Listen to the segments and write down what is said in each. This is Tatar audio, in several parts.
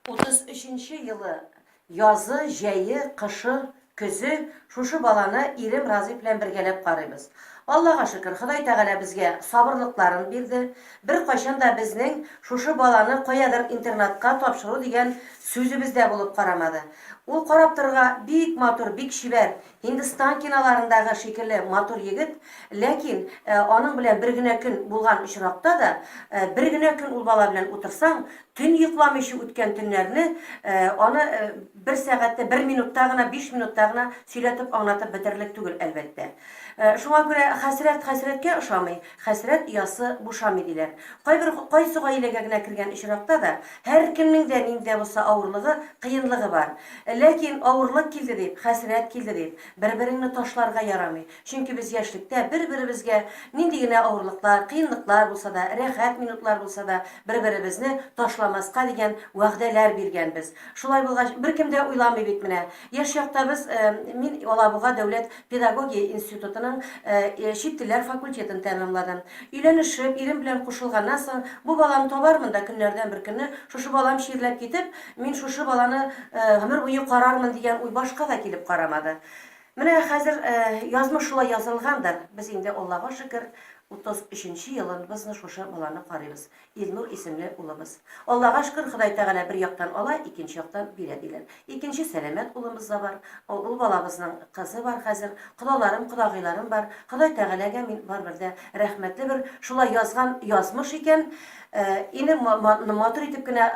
33 нче елы язы, җәе, кышы, көзе шушы баланы ирем Разый белән бергәләп карыйбыз. Аллага шөкер, Ходай Тәгалә безгә сабырлыкларын бирде. Беркайчан да безнең шушы баланы каядыр интернатка тапшыру дигән сүзебез дә булып карамады. Ул карап торырга бик матур, бик чибәр, Һиндстан киноларындагы шикелле матур егет, ләкин аның белән бер генә көн булган очракта да, бер генә көн ул бала белән утырсаң, төн йокламыйча үткән төннәрне, аны бер сәгатьтә, бер минутта гына, биш минутта гына сөйләтеп аңлатып бетерерлек түгел, әлбәттә. Шуңа күрә хәсрәт хәсрәткә ошамый, Хәсрәт оясы бушамый, диләр. Кайбер кайсы гаиләгә генә кергән очракта да, һәркемнең дә нинди дә булса авырлыгы, кыенлыгы бар. Ләкин авырлык килде дип, хәсрәт килде дип, бер-береңне ташларга ярамый. Чөнки без яшьлектә бер-беребезгә нинди генә авырлыклар, кыенлыклар булса да, рәхәт минутлар булса да, бер-беребезне ташламаска дигән вәгъдәләр биргәнбез. Шулай булгач, беркем дә уйламый бит менә, Яшь чакта без, мин Алабуга дәүләт педагогия институтының чит телләр факультетын тәмамладым. Өйләнешеп, ирем белән кушылганнан соң, бу баланы табармын да көннәрдән бер көнне шушы балам чирләп китеп, мин шушы баланы гомер буе карармын дигән уй башка да килеп карамады. Менә хәзер язмыш шулай язылгандыр, без инде Аллага шөкер, 33 нче елыбызны шушы баланы карыйбыз. Илнур исемле улыбыз. Аллага шкер, Ходай Тәгалә бер яктан ала, икенче яктан бирә, диләр. Икенче сәламәт улымыз да бар. Ул балабызның кызы бар хәзер. Колаларым, кодагыйларым бар. Ходай Тәгаләгә мин барыбер дә рәхмәтле бер, шулай язган язмыш икән. Инде матур итеп кенә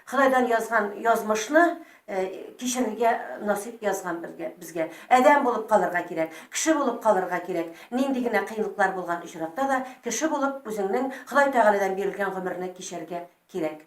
Ходайдан язган язмышны Э, кичерергә насыйп язган безгә адәм булып калырга кирәк кеше булып калырга кирәк нинди генә кыенлыклар булган очракта да кеше булып үзеңнең ходай тәгаләдән бирелгән гомерне кичәргә кирәк